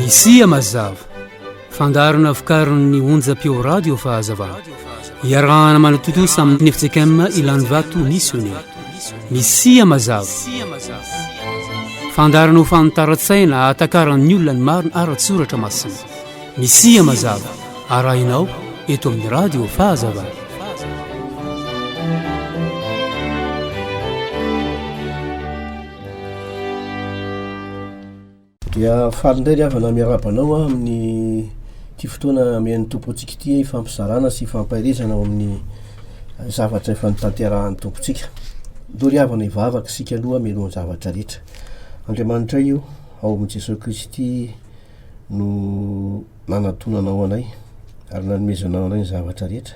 Misia mazava, fandaharana vokarin'ny onjam-peo radio Fahazavana. Iarahana manatontosa amin'ny FJKM Ilanivato Missionnaire. Misia mazava. Fandaharana ho fanitaran-tsaina ahatakaran'ny olona ny marina ara-tsoratra masina. Misia mazava arahinao eto amin'ny Radio Fahazavana. Dia faly indray ry havana miarahaba anao aho amin'ny ity fotoana omen'ny Tompo antsika ity hifampizarana sy hifampaherezana ao amin'ny zavatra efa nitanterahan'ny Tompontsika. Aleo ry havana hivavaka isika aloha mialohan'ny zavatra rehetra. Andriamanitray o, ao amin'i Jesoa Kristy no nanatonana ao anay ary nanomezana anay ny zavatra rehetra.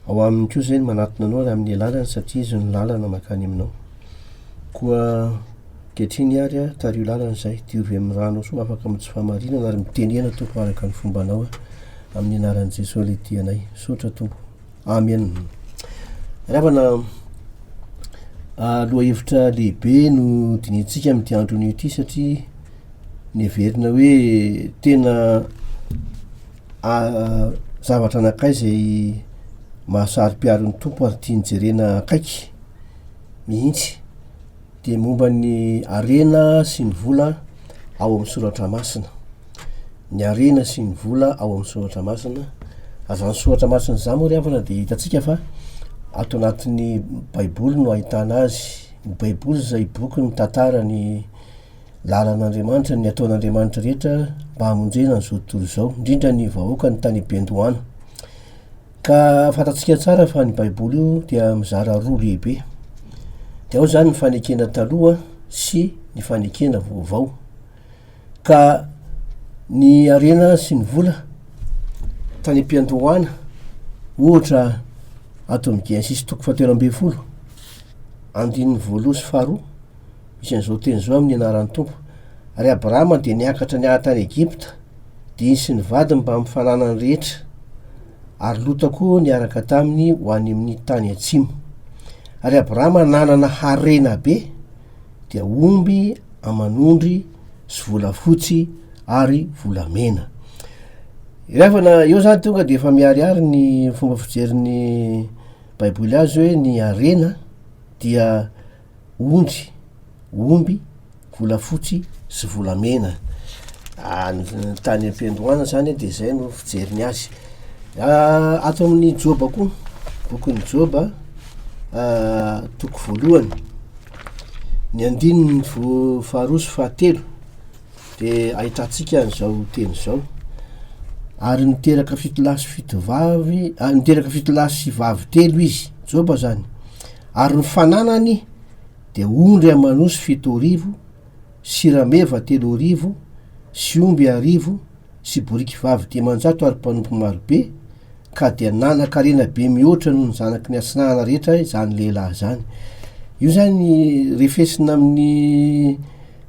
Ao aminy koa izay ny manatona anao ary amin'ny alalany satria izy no lalana makany aminao. Koa ankehitriny ary a, tariho lalana izay, diovy amin'ny rano soa afaka amin'ny tsy fahamarinana ary mitenena Tompo araka ny fombanao a. Amin'ny anaran'i Jesoa lehibe anay. Misaotra Tompo. Amen. Ry havana, lohahevitra lehibe no dinihintsika amin'ity andro anio ity satria ny heverina hoe tena zavatra anakay izay mahasaro-piaro ny Tompo ary tiany jerena akaiky mihitsy. dia momba ny harena sy ny vola ao amin'ny soratra masina. Ny harena sy ny vola ao amin'ny soratra masina, ary izany soratra masina izany moa ry havana dia hitantsika fa ato anatin'ny Baiboly no ahitana azy. Ny Baiboly izay boky mitantara ny lalan'Andriamanitra, ny ataon'Andriamanitra rehetra mba hamonjena an'izao tontolo izao, indrindra ny vahoakany tany am-piandohana. Ka fantatsika tsara fa ny Baiboly io dia mizara roa lehibe. Dia ao izany ny fanekena taloha sy ny fanekena vaovao. Ka ny harena sy ny vola tany am-piandohana, ohatra ato amin'ny Genesisy toko fahatelo ambin'ny folo, andininy voalohany sy faharoa, Misy an'izao teny izao amin'ny anaran'ny Tompo, Ary Abrahama dia niakatra niala tany Egypta, dia izy sy ny vadiny mbamin'ny fananany rehetra, ary Lota koa niaraka taminy ho any amin'ny tany atsimo. Ary Abrahama nanana harena be, dia omby aman'ondry sy volafotsy ary volamena. Ilevana eo zany tonga dia efa miharihary ny fomba fijerin'ny Baiboly azy hoe ny harena dia ondry, omby, volafotsy sy volamena. Any tany am-piandohana izany dia izay no fijeriny azy. Ato amin'ny Joba koa, bokin'i Joba, toko voalohany, ny andininy voa- faharoa sy fahatelo dia ahitantsika an'izao teny izao, ary niteraka fito lahy sy fito vavy, ary niteraka fito lahy sy vavy telo izy, Joba izany. Ary ny fananany dia ondry aman'osy fito arivo, sy rameva telo arivo, sy omby arivo, sy boriky vavy dimanjato ary mpanompo maro be, ka dia nanan-karena be mihoatra noho ny zanaky ny atsinanana rehetra izany lehilahy izany. Io izany refesina amin'ny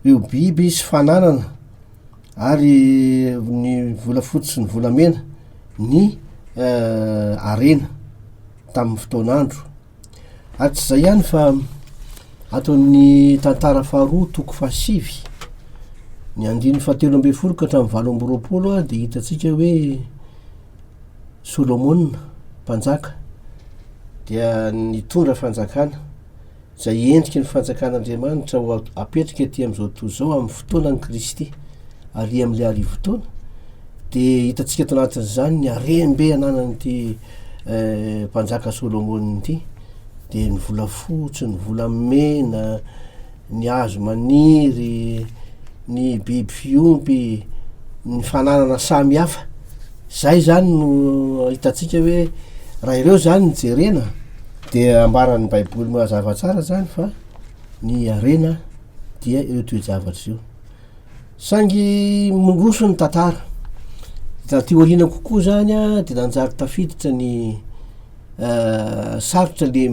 ireo biby sy fananana ary ny volafotsy sy ny volamena ny harena. tamin'ny fotoan'andro. Ary tsy izay ihany fa ato amin'ny tantara faharoa toko fahasivy, ny andininy fahatelo ambin'ny folo ka hatramin'ny valo amby roapolo dia hitantsika hoe Solomona mpanjaka dia nitondra fanjakana izay endriky ny Fanjakan'Andriamanitra ho apetraka ety amin'izao tontolo izao amin'ny fotoanan'i Kristy ary amin'ilay arivotaona, dia hitantsika ato anatin'izany ny harem-be ananan'ity eh, mpanjaka Solomona ity, dia ny volafotsy, ny volamena, ny hazo maniry, ny biby fiompy, ny fananana samy hafa. Izay izany no hitantsika hoe raha ireo izany no jerena dia ambaran'ny Baiboly mazava tsara izany fa ny harena dia ireo toe-javatra ireo. Saingy miroso ny tantara. Taty aoriana kokoa izany dia nanjary tafiditra ny sarotra le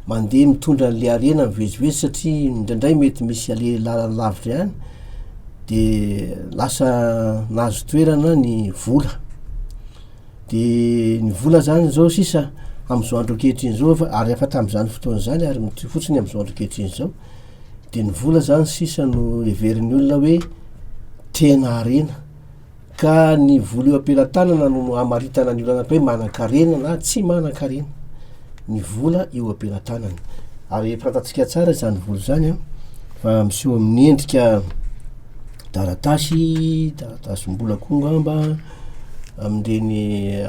mandeha mitondra an'le harena mivezivezy satria indraindray mety misy ale lalana lavitra ihany de lasa nahazo toerana ny vola, de ny vola zany zao sisa am'zao andro ankehitriny zao efa ary efa tam'zany fotoana zany ary mitohy fotsiny am'zao andro ankehitriny zao de ny vola zany sisa no heverin'ny olona hoe tena harena. Ka ny vola eo am-pelatanana no hamaritana ny olana hoe manan-karena na tsy manan-karena, ny vola eo am-pelatanana. Ary efa fantatsika tsara izany vola izany an, fa miseho amin'ny endrika taratasy, taratasim-bola koa angamba, amin'ireny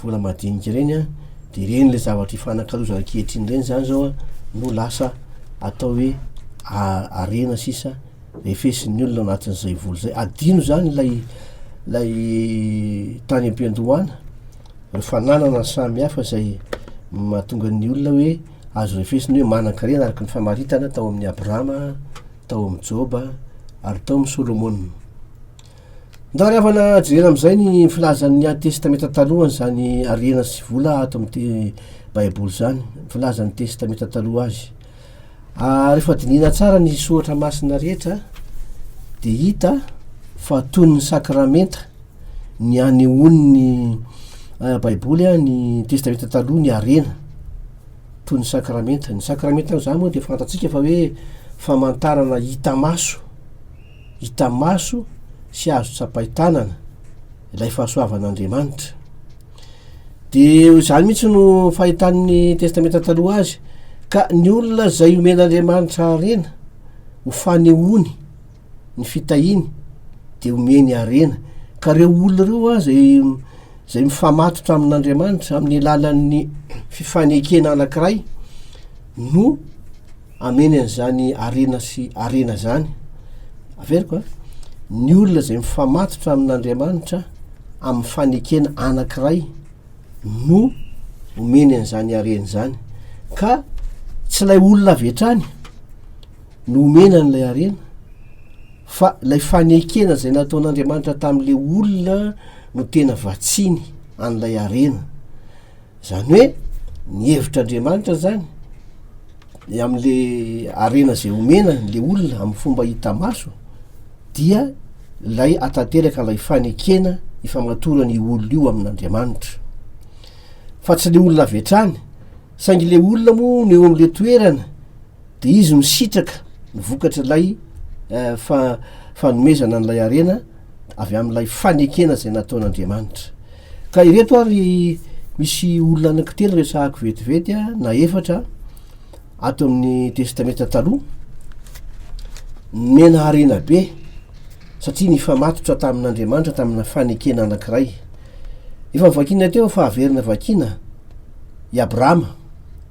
vola madinika ireny an, dia ireny ilay zavatra ifanakalozana ankehitriny ireny izany izao an, no lasa atao hoe harena sisa. efesin'ny olona anatin'izay vola izay, adino izany ilay ilay tany am-piandohana, ireo fananana samy hafa izay mahatonga ny olona hoe azo refesina hoe manan-karena araka ny famaritana tao amin'i Abrahama, tao amin'i Joba ary tao amin'i Solomona. Ndao ry havana jerena amin'izay ny filazan'ny Ady Testamenta Taloha an'izany harena sy vola ato amin'ity Baiboly izany, ny filazan'ny Testamenta Taloha azy. Rehefa dinihina tsara ny soratra masina rehetra dia hita fa toy ny sakramenta ny anehoan'ny Baiboly ny Testamenta Taloha ny harena, toy ny sakramenta. Ny sakramenta amin'izany moa dia fantatsika fa hoe famantarana hita maso, hita maso sy azo tsapain-tanana ilay fahasoavan'Andriamanitra. Dia ho izany mihitsy no fahitan'ny Testamenta Taloha azy. Ka ny olona izay omen'Andriamanitra harena, ho fanehoany ny fitahiany, dia omeny harena. Ka ireo olona ireo aza izay mifamatotra amin'Andriamanitra amin'ny alalan'ny fifanekena anankiray no. hameno an'izany harena sy harena izany, averiko an, ny olona izay mifamatotra amin'Andriamanitra amin'ny fanekena anankiray no omeny an'izany harena izany, ka tsy ilay olona avy hatrany no omena an'ilay harena fa ilay fanekena izay nataon'Andriamanitra tamin'ilay olona no tena vatsiny an'ilay harena. Zany hoe ny hevitr' Andriamanitra zany ny amle arena zay omena le olona am fomba hita maso dia lay atateraka lay fanekena ifamatorana io olona io amin' Andriamanitra fa tsy le olona avy hatrany saingy le olona moa no eo amle toerana dia izy no sitraka ny vokatr'ilay fanomezana an'ilay harena avy amin'ilay fanekena izay nataon'Andriamanitra. Ka ireto ary misy olona anankitelo resahako vetivety a, na efatra ato amin'ny testamenta taloha, nomena harena be satria nifamatotra tamin'Andriamanitra tamina fanekena anankiray. Efa vakina teo fa averina vakina i Abrahama.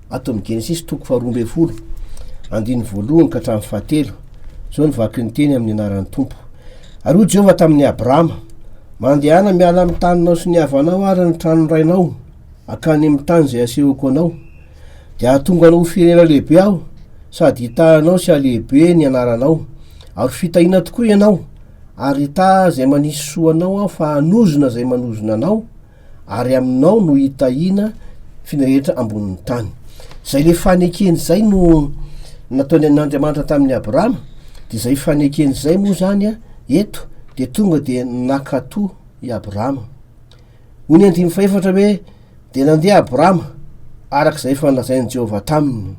Ato amin'ny Genesisy toko faharoa ambin'ny folo, andininy voalohany ka hatramin'ny fahatelo, izao no vaky ny teny amin'ny anaran'ny Tompo. Ary hoy Jehovah tamin'i Abrahama, Mandehana miala amin'ny taninao sy ny havanao ary ny tranon'ny rainao, hankany amin'ny tany izay hasehoko anao. Dia hahatonga anao ho firenena lehibe Aho, sady hitaha anao sy halehibe ny anaranao. Ary ho fitahiana tokoa ianao, ary hitaha izay manisy soa anao Aho fa hanozona izay manozona anao, ary aminao no hitahiana f'iny rehetra ambonin'ny tany. Izay le fanekeny izay no nataony an'Andriamanitra tamin'ny Abrahama, dia izay fanekeny izay moa izany a, eto dia tonga dia nakato i Abrahama. Hoy ny andininy fahefatra hoe, dia nandeha Abrahama araka izay efa nolazain'i Jehovah taminy.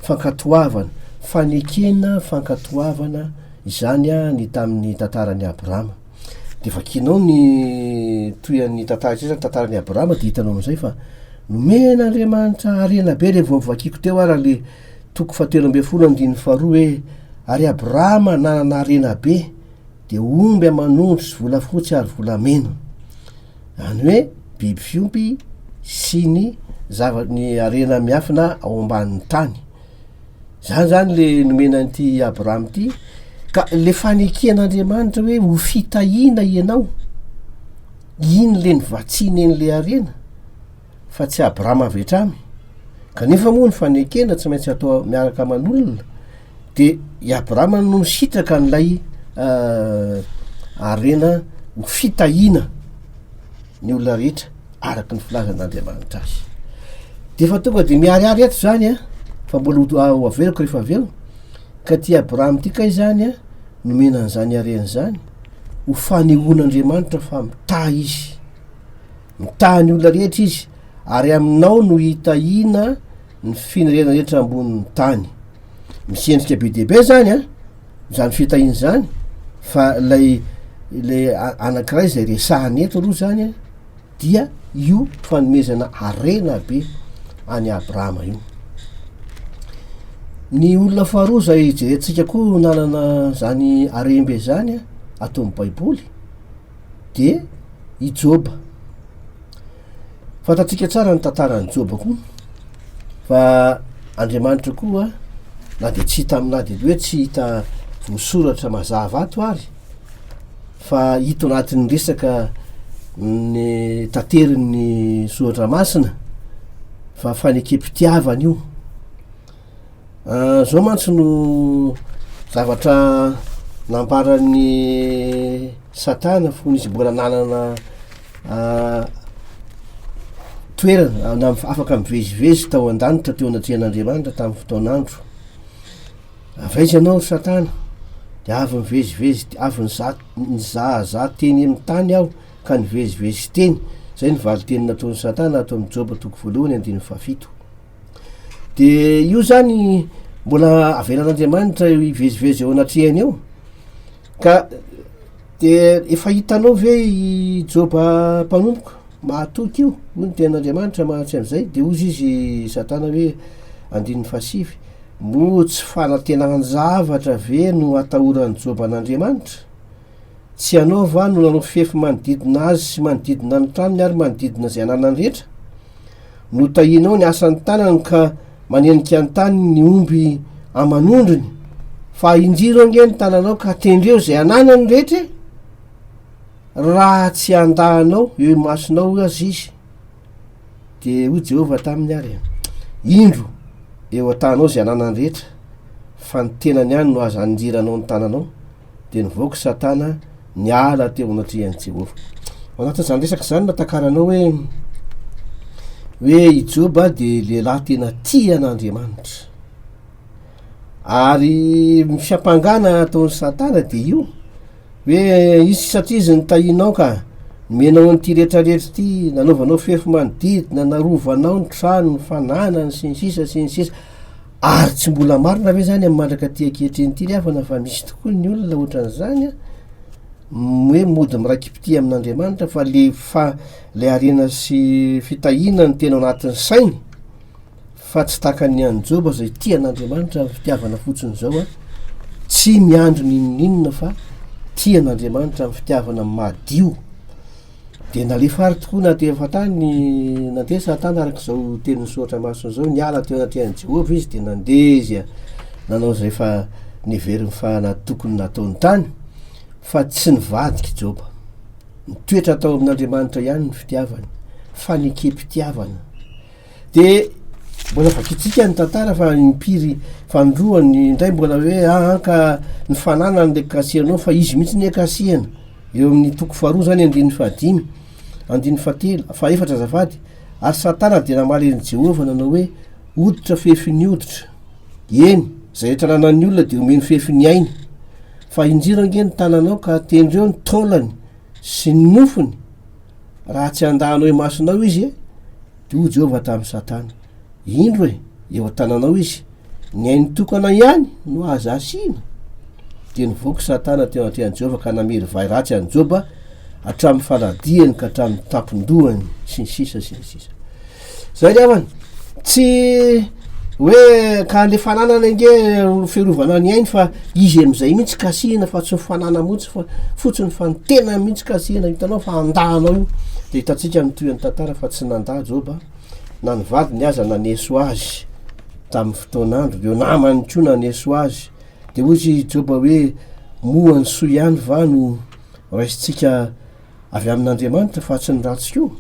Fankatoavana, fanekena fankatoavana izany a ny tamin'ny tantaran'i Abrahama. Dia vakianao ny tohian'ny tantara izay, izany tantaran'i Abrahama dia hitanao amin'izay fa nomen'Andriamanitra harena be ireny vao novakiako teo ary ilay toko fahatelo ambin'ny folo andininy faharoa hoe ary Abrahama nanana harena be dia omby aman'ondry sy volafotsy ary volamena. Izany hoe biby fiompy sy ny zava-ny harena miafina ao ambanin'ny tany. Zany zany le nomena an'ity Abraham ity ka le faneken'Andriamanitra hoe ho fitahiana ianao iny le nivatsiany an'le harena fa tsy Abraham avy hatrany kanefa moa ny fanekena tsy maintsy atao miaraka aman'olona de i Abraham no nisitraka an'ilay harena ho fitahiana ny olona rehetra araka ny filazan'Andriamanitra azy. Dia efa tonga dia miharihary eto izany a, fa mbola ho averiko rehefa avy eo, ka ty Abraham ty kay izany a, nomena an'izany harena izany, ho fanehoan'Andriamanitra fa mitahy izy, mitahy ny olona rehetra izy, ary aminao no hitahiana ny firenena rehetra ambonin'ny tany. misy endrika be dia be zany an zany fitahiana zany fa lay le anankiray zay resahany eto aloha zany an dia io fanomezana harena be any abrahama io ny olona faharoa zay jerentsika koa nanana zany arembe zany an ataon'ny baiboly de i joba Fantatsika tsara ny tantaran'i Joba koa fa Andriamanitra koa na dia tsy hita am- na dia hoe tsy hita voasoratra mazava ato ary fa hita ao anatin'ny resaka ny taterin'ny Soratra Masina fa fanekem-pitiavana io. Zao mantsy no zavatra nambaran'i satana fony izy mbola nanana toerana na afaka mivezivezy tao an-danitra teo anatrehan'Andriamanitra tamin'ny fotoan'andro, avy aiza ianao ry satana? De avy nivezivezy avy niza- nizahazaha teny amin'ny tany aho ka nivezivezy teny, zay ny valin-teny nataon'i satana ato amin'ny Joba toko voalohany andininy fahafito. dia io zany mbola avelan'Andriamanitra eo hivezivezy eo anatrehany eo ka dia efa hitanao ve i Joba mpanompoko mahatoky io hoy ny tenin'Andriamanitra mahatry an'izay dia hozy izy Satana hoe andininy fahasivy moa tsy fanatenan-javatra ve no atahoran'i Joba an'Andriamanitra Tsy ianao va no nanao fefy manodidina azy sy manodidina ny tranony ary manodidina izay ananany rehetra? Notahianao ny asan'ny tanany ka manenika an-tany ny omby aman'ondriny, fa injiro ange ny tananao ka tendreo izay ananany rehetra e! Raha tsy handà anao eo imasonao aza izy, dia hoy Jehovah taminy àry, Indro, eo an-tànao izay ananany rehetra, fa ny tenany ihany no aza anjiranao ny tananao. dia nivoaka i Satana niala teo anatrehan'i Jehovah. Ao anatin'izany resaka izany no natakaranao hoe hoe i Joba dia lehilahy tena tia an'Andriamanitra. Ary ny fiampangana ataon'i Satana dia io hoe izy satria izy nitahianao ka nomenao an'ity rehetrarehetra ity, nanaovanao fefy manodidina, narovanao ny trano, ny fananany sy ny sisa sy ny sisa. Ary tsy mbola marina ve izany amin'ny mandrak'aty ankehitriny ity ry havana fa misy tokoa ny olona ohatran'izany an, hoe mody mirai-kipitia amin'Andriamanitra fa le fa- le harena sy fitahiana no tena ao anatin'ny sainy fa tsy tahaka ny an'i Joba izay tia an'Andriamanitra amin'ny fitiavana fotsiny izao an, tsy miandry n'inon'inona fa tia an'Andriamanitra amin'ny fitiavana madio. Dia nalefa àry tokoa na teo an-tany na tetsy an-tany, araka izao teny misoratra masina izao, niala teo anatrehan'i Jehovah izy, dia nandeha izy nanao izay efa neveriny fa tokony nataony tany, fa tsy nivadika i Joba. Nitoetra tao amin'Andriamanitra ihany ny fitiavany, fanekempitiavana. Dia mbola vakintsika ny tantara fa impiry fanindroany indray mbola hoe ahanka ny fananany le kasihanao fa izy mihitsy ny kasiana. Eo amin'ny toko faharoa izany andininy fahadimy, andininy fahatelo, fahefatra azafady, Ary Satana dia namaly an'i Jehovah nanao hoe, Hoditra fefin'ny hoditra. Eny, izay rehetra ananan'ny olona dia homeny fefin'ny ainy. Fa injiro ange ny tananao ka tendreo ny taolany sy ny nofony, raha tsy handahanao imasonao izy, dia hoy Jehovah tamin'i Satana. indro e eo an-tananao izy ny ainy tokana ihany no aza asiana dia nivoaka satana teo anatrehan'i jehovah ka namery vay ratsy an'i joba hatramin'ny faladiany ka hatramin'ny tampon-dohany sy ny sisa sy ny sisa zay ry havana tsy hoe ka le fananana ange fiarovana ny ainy fa izy amin'izay mihitsy kasihina fa tsy ny fanana mihitsy fa fotsiny fa ny tena mihitsy kasihina hitanao fa andahanao io dia hitantsika ny toy an'ny tantara fa tsy nanda joba Na ny vadiny aza naneso azy tamin'ny fotoan'andro, ireo namany koa naneso azy. Dia hoy i Joba hoe, Moa ny soa ihany va no raisintsika avy amin'Andriamanitra fa tsy ny ratsy koa?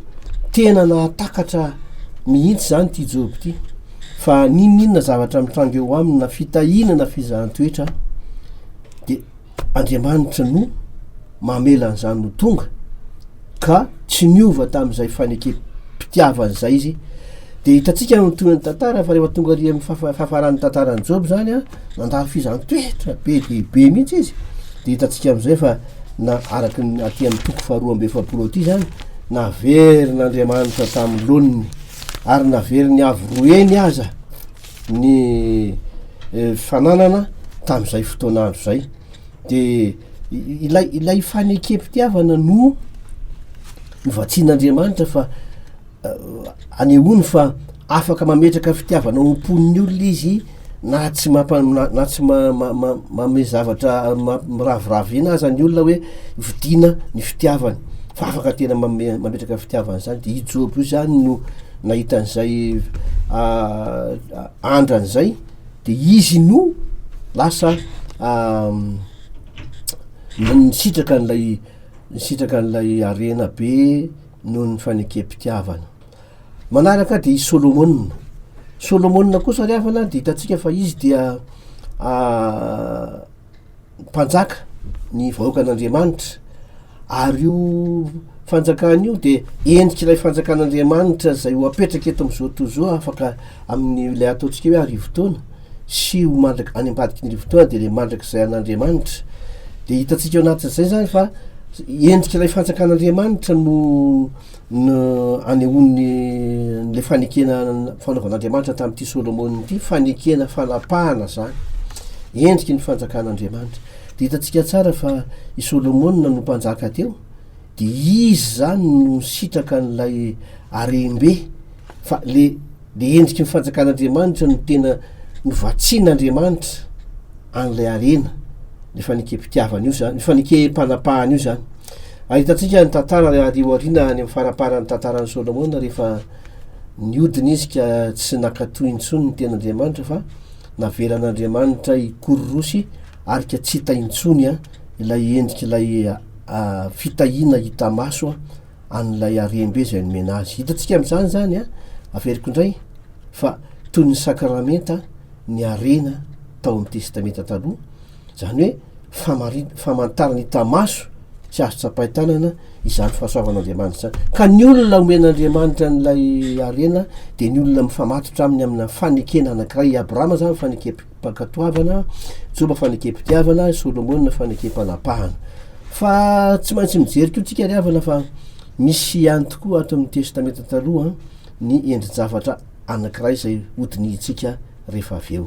Tena nahatakatra mihitsy izany ity Joba ity, fa n'inon'inona zavatra mitranga eo aminy na fitahiana na fizahan-toetra dia Andriamanitra no mamela an'izany ho tonga ka tsy niova tamin'izay fanekem-pitiavany izay izy. Dia hitantsika ny tohin'ny tantara fa rehefa tonga ary amin'ny fahafaran'ny tantaran'i Joba izany a, nandalo fizaham-toetra be dia be mihitsy izy. Dia hitantsika amin'izay fa na araka ny aty amin'ny toko faharoa amby efapolo aty izany, naverin'Andriamanitra tamin'ny laoniny ary naverin'ny avo roa heny aza. ny fananana tamin'izay fotoana andro izay de ilay ilay fanekempitiavana no novatsian'Andriamanitra fa anehoany fa afaka mametraka fitiavana ao am-pon'ny olona izy na tsy mampa- na tsy ma- ma- ma- manome zavatra ma- miraviravy ina aza ny olona hoe vidiana ny fitiavany fa afaka tena mame- mametraka fitiavana izany de i Joba io zany no Nahita an'izay andrany izay dia izy no lasa nisitraka an'ilay nisitraka an'ilay harena be noho ny fanekempitiavana. Manaraka dia i Solomona, Solomona kosa ry havana dia hitantsika fa izy dia Mpanjaka ny vahoakan'Andriamanitra, ary io Fanjakana io dia endrik'ilay Fanjakan'Andriamanitra izay ho apetraka eto amin'izao tontolo izao, afaka amin'ilay ataontsika hoe arivotaona sy ho mandrak- any ambadiky ny arivotaona dia ilay mandrakizay an'Andriamanitra. Dia hitantsika ao anatin'izay izany fa endrik'ilay Fanjakan'Andriamanitra no no anehoany an'ilay fanekena fanaovan'Andriamanitra tamin'ity Solomona ity, fanekena fanapahana izany, endriky ny fanjakan'Andriamanitra. Dia hitantsika tsara fa i Solomona no mpanjaka teo, dia izy izany no nisitraka an'ilay harem-be, fa le Dia endriky ny fanjakan'Andriamanitra no tena novatsian'Andriamanitra an'ilay harena, io fanekempitiavana io izany, io fanekem-panapahana io izany. Ary hitantsika ny tantara ary eo aoriana any amin'ny faramparan'ny tantaran'i Solomona rehefa niodina izy ka tsy nankatoy intsony ny tenin'Andriamanitra fa navelan'Andriamanitra hikororosy arika tsy hita intsony ilay endrik'ilay fitahiana hita maso an'ilay harem-be izay nomena azy. Hitantsika amin'izany izany, averiko indray, fa toy ny sakramenta ny harena tao amin'ny Testamenta Taloha, izany hoe famari- famantarana hita maso sy azo tsapain-tanana izany fahasoavan'Andriamanitra izany. Ka ny olona omen'Andriamanitra an'ilay harena dia ny olona mifamatotra aminy amina fanekena anankiray. I Abrahama izany fanekem-, Fankatoavana, Joba fanekem-pitiavana, Solomona fanekem-panapahana. Fa tsy maintsy mijery koa tsika ry havana fa misy ihany tokoa ato amin'ny Testamenta Taloha ny endri-javatra anankiray izay hodinihintsika rehefa avy eo.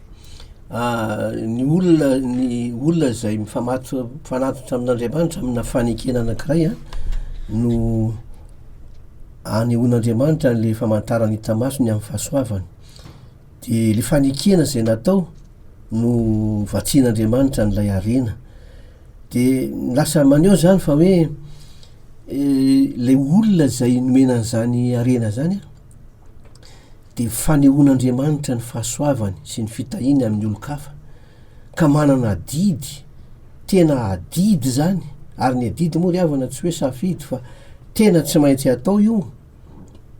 ny olona ny olona izay mifamatotra mifanatitra amin'Andriamanitra amina fanekena anankiray a no anehoan'Andriamanitra le famantarany hita maso ny amin'ny fahasoavany de le fanekena zay natao no vatsian'Andriamanitra an'ilay harena de lasa maneho zany fa hoe le olona zay nomena an'zany harena zany a dia fanehoan'Andriamanitra ny fahasoavany sy ny fitahiany amin'ny olon-kafa, ka manana adidy, tena adidy izany, ary ny adidy moa ry havana tsy hoe safidy fa tena tsy maintsy atao io,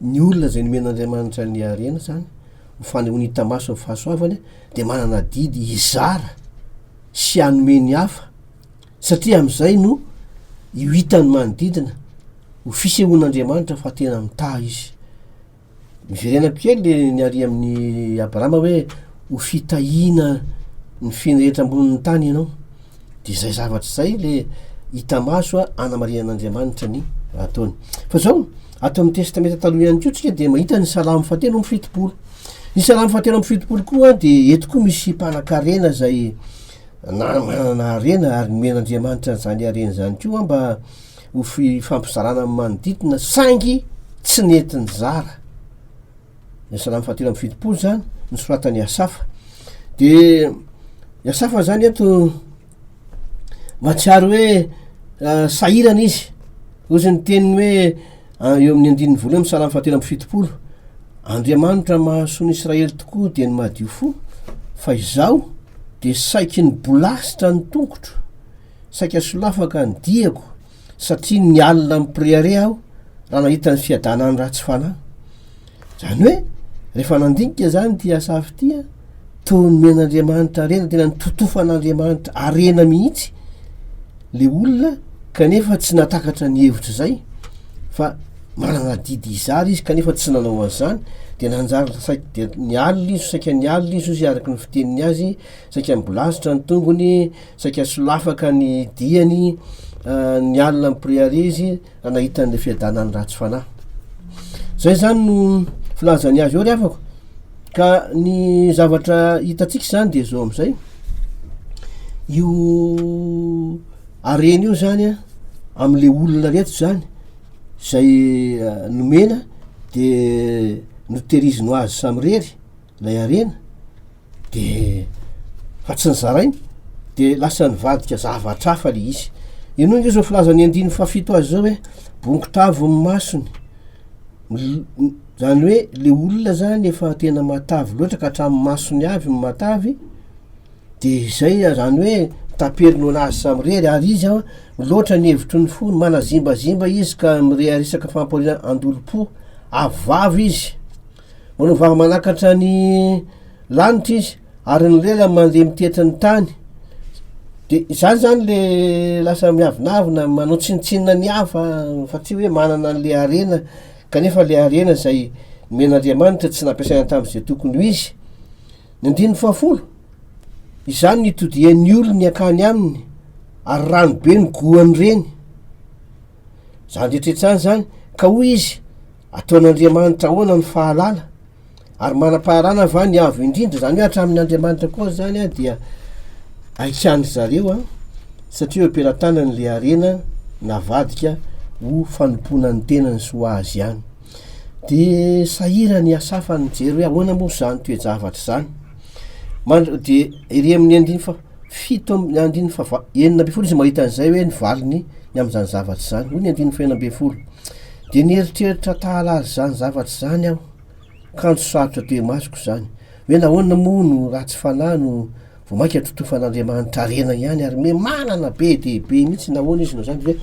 ny olona izay nomen'Andriamanitra ny harena izany, ho fanehoany hita maso ny fahasoavany, dia manana adidy hizara sy hanome ny hafa, Satria amin'izay no io hitan'ny manodidina ho fisehoan'Andriamanitra fa tena mitaha izy. Miverenako kely le niaria amin'i Abrahama hoe ho fitahiana ny finy rehetra ambonin'ny tany ianao. Dia izay zavatra izay le hita maso a anamarihan'Andriamanitra ny raha ataony. Fa izao, ato amin'ny Testamenta Taloha ihany koa tsika dia mahita ny Salamo fahatelo amby fitopolo. Ny Salamo fahatelo amby fitopolo koa dia eto koa misy mpanan-karena izay na manana harena ary nomen'Andriamanitra an'izany harena izany koa mba ho fifampizarana amin'ny manodidina saingy tsy nety nizara ny salamo fahatelo amin'ny fitopolo izany nosoratan'i Asafa dia i Asafa izany eto mahatsiaro hoe ah, sahirana izy ozy ny teniny hoe An, eo amin'ny andininy voalohany, Salamo fahatelo amby fitopolo, Andriamanitra mahasoa ny Israely tokoa dia ny madio fo, fa izaho dia saiky ny bolasitra ny tongotro, saika solafaka ny diako, satria ny alina mipirehareha aho raha nahita ny fiadanan'ny ratsy fanahy. Zany hoe rehefa nandinika zany ty asafy ty an, toa nomen'Andriamanitra harena, tena nototofan'Andriamanitra harena mihitsy le olona kanefa tsy nahatakatra ny hevitra zay fa manana adidy hizara izy kanefa tsy nanao an'izany de nanjary saika dia nialona izy, saika nialona izy hoy zay araka ny fiteniny azy, saika nibolazitra ny tongony, saika solafaka ny diany, nialona am-piriaria izy Raha nahita an'ilay fiadanan'ny ratsy fanahy. Izay izany no filazany azy eo ry havako. Ka ny zavatra hitantsika izany dia izao amin'izay. Io harena io izany an, amin'ilay olona rehetra izany, izay eh, nomena dia notehiriziny ho azy samirery ilay harena. de fa tsy nizarainy de lasa nivadika zavatra hafa le izy inoa nge zao filazany andiny fahafito azy zao hoe bongotravo ny masony zany hoe le olona zany efa tena matavy loatra ka hatramin'ny masony avy no matavy de izay zany hoe taperiny honazy samy rery ary izy an miloatra ny hevitry ny fo manazimbazimba izy ka mireharesaka fampahoriana andolom-po avy vavy izy Manovava manakatra ny lanitra izy ary ny lela mandeha mitetry ny tany. Dia izany izany le lasa miavonavona, manao tsinontsinona ny hafa fa tsy hoe manana an'le harena kanefa le harena izay nomen'Andriamanitra tsy nampiasaina tamin'izay tokony ho izy. Ny andininy fahafolo, Izany no itodihan'ny olony hankany aminy ary rano be no goany reny. Izany rehetra izany izany, ka hoy izy, Ataon'Andriamanitra ahoana ny fahalala? Ary manam-paharana va ny Avo Indrindra? Izany hoe hatramin'ny Andriamanitra koa izany dia haikan-dry zareo an, satria eo am-pelatanany ilay harena navadika ho fanompoana ny tenany sy ho azy ihany. Dia sahirana i Asafa nijery hoe ahoana moa izany toe-javatra izany. Dia ery amin'ny andininy faha. fito am- ny andininy fahava- enina ambin'ny folo izy mahita an'izay hoe ny valiny ny amin'izany zavatra izany hoy ny andininy fahenina ambin'ny folo dia nieritreritra tahalala izany zavatra izany aho kanjo sarotra teo imasoko izany hoe nahoana moa no ratsy fanahy no vao mainka totofan'andriamanitra harena ihany ary me manana be dia be mihitsy nahoana izy no izany dia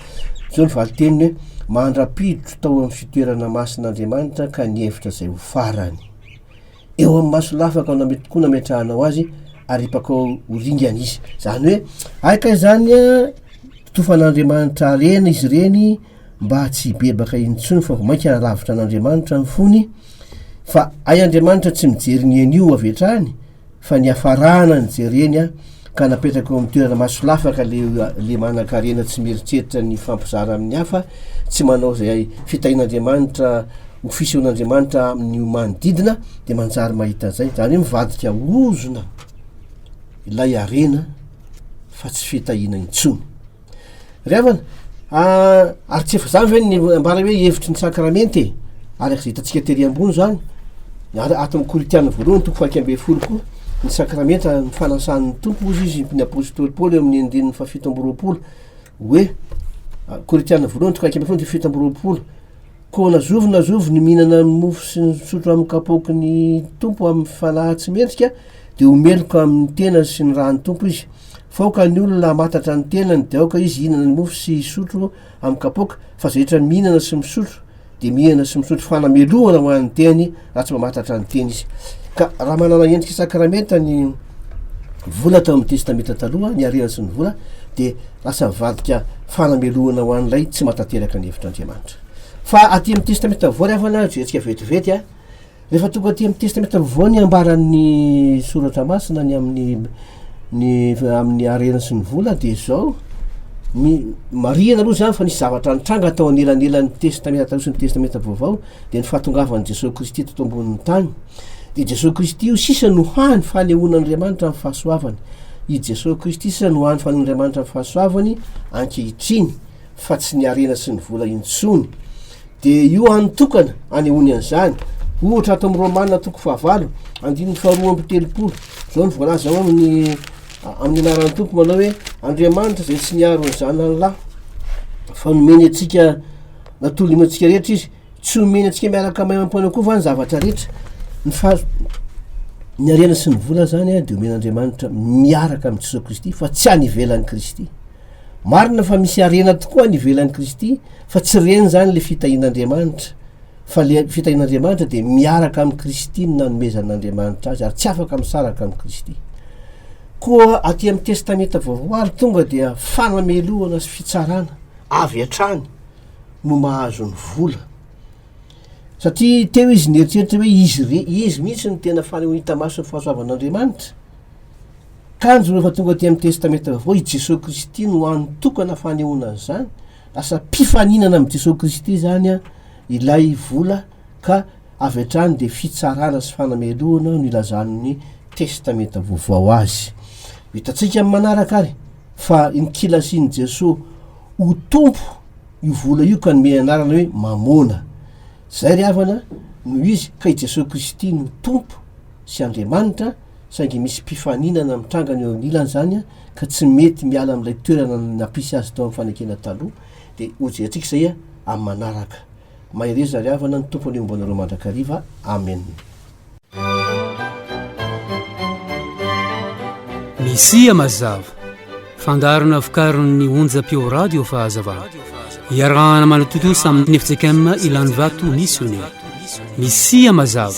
zao ny valiteniny hoe mandra-piditro tao amin'ny fitoerana masin'andriamanitra ka nihevitra izay ho farany eo amin'ny maso lafaka na mety koa nametrahanao azy ary hipakao ho ringana izy zany hoe ay kay zany a tofan'andriamanitra harena izy ireny mba tsy hibebaka intsony fa vao mainka haravitra an'andriamanitra ny fony fa ay andriamanitra tsy mijery ny anio avy hatrany fa ny hafarana ny jereny a ka napetraka eo amin'ny toerana masolafaka ilay manankarena tsy mieritreritra ny hifampizara amin'ny hafa, tsy manao izay fitahian'Andriamanitra ho fisehon'Andriamanitra amin'ny manodidina, dia manjary mahita izay, izany hoe mivadika ho ozona ilay harena fa tsy fitahiana intsony. Ry havana, ary tsy efa izany ve ny ambara hoe hevitry ny sakramenty e? Araka izay hitantsika tery ambony izany, ary ato amin'ny Korintiana voalohany toko fahaika ambin'ny folo koa, ny sakramenta ny fanasan'ny Tompo hozy izy ny apostoly Paoly eo amin'ny andininy fahafito amby roapolo hoe Korintiana voalohany toko fahaika ambin'ny folo andininy fahafito amby roapolo koa nazovy nazovy ny mihinana ny mofo sy ny misotro amin'ny kapoaky ny Tompo amin'ny fanahy tsy mendrika dia ho meloka amin'ny tena sy ny rahan'ny Tompo izy Faoka ny olona hamatatra ny tenany dia aoka izy hihinana ny mofo sy hisotro amin'ny kapoaka fa izay rehetra mihinana sy misotro dia mihinana sy misotro fanamelohana ho an'ny teny raha tsy mamatatra ny teny izy. Ka raha manana endrika sakramenta ny vola tao amin'ny testamenta taloha, ny harena sy ny vola dia lasa mivadika fanamelohana ho an'ilay tsy matanteraka ny hevitr'Andriamanitra. Fa aty amin'ny testamenta vaovao ry havana, jerentsika vetivety a. Rehefa tonga aty amin'ny Testamenta Vaovao ny ambaran'ny Soratra Masina ny amin'ny ny amin'ny harena sy ny vola dia izao, ny marihana aloha izany fa nisy zavatra nitranga tao anelanelan'ny Testamenta Taloha sy ny Testamenta Vaovao dia ny fahatongavan'i Jesoa Kristy teto ambonin'ny tany. Dia Jesoa Kristy io sisa no hany fanehoan'Andriamanitra amin'ny fahasoavany. I Jesoa Kristy sisa no hany fanehoan'Andriamanitra amin'ny fahasoavany ankehitriny fa tsy ny harena sy ny vola intsony. Dia io hany tokana anehoany an'izany. Ohatra, ato amin'ny Romana toko fahavalo, andininy faharoa amby telopolo, izao no voalaza ao amin'ny amin'ny anaran'ny Tompo manao hoe Andriamanitra izay tsy niaro ny zanany lahy fa nomeny antsika natolony antsika rehetra izy tsy omeny antsika miaraka amay ampoana koa va ny zavatra rehetra ny far ny harena sy ny vola zany dia omen'Andriamanitra miaraka amin'i Jesoa Kristy fa tsy any ivelan'i Kristy Marina fa misy harena tokoa any ivelan'i Kristy fa tsy ireny izany ilay fitahian'Andriamanitra fa ilay fitahian'Andriamanitra dia miaraka amin'i Kristy no nanomezan'Andriamanitra azy ary tsy afaka misaraka amin'i Kristy. Koa aty amin'ny Testamenta Vaovao ary tonga dia fanamelohana sy fitsarana avy hatrany no mahazo ny vola. Satria teo izy nieritreritra hoe izy, izy mihitsy no tena fanehoan-hita maso ny fahasoavan'Andriamanitra. Kanjo rehefa tonga aty amin'ny Testamenta Vaovao, i Jesoa Kristy no anotokana fanehoana an'izany, lasa mpifaninana amin'i Jesoa Kristy izany ilay vola ka avy hatrany dia fitsarana sy fanamelohana no ilazan'ny Testamenta Vaovao azy. Hitantsika amin'ny manaraka ary fa nikilasin'i Jesoa ho tompo io vola io ka nomeny anarana hoe Mamôna. Izay ry havana no izy ka i Jesoa Kristy no Tompo sy Andriamanitra, saingy misy mpifaninana mitrangana eo anilany zany ka tsy mety miala amin'ilay toerana nampisy azy tao amin'ny fanekena taloha dia hojerentsika izay amin'ny manaraka mahereza ry havana ny tompo anie homba anareo mandrakariva amen Mesia mazava Fandaharana vokarin'ny onjam-peo Radio Fahazavana. Iarahana manatontosa amin'ny FJKM Ilanivato Missionnaire. Misia mazava.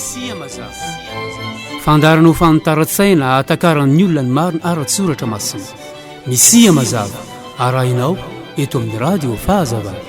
Fandaharana ho fanitaran-tsaina ahatakaran'ny olona ny marina ara-tsoratra masina. Misia mazava. Arahinao eto amin'ny Radio Fahazavana.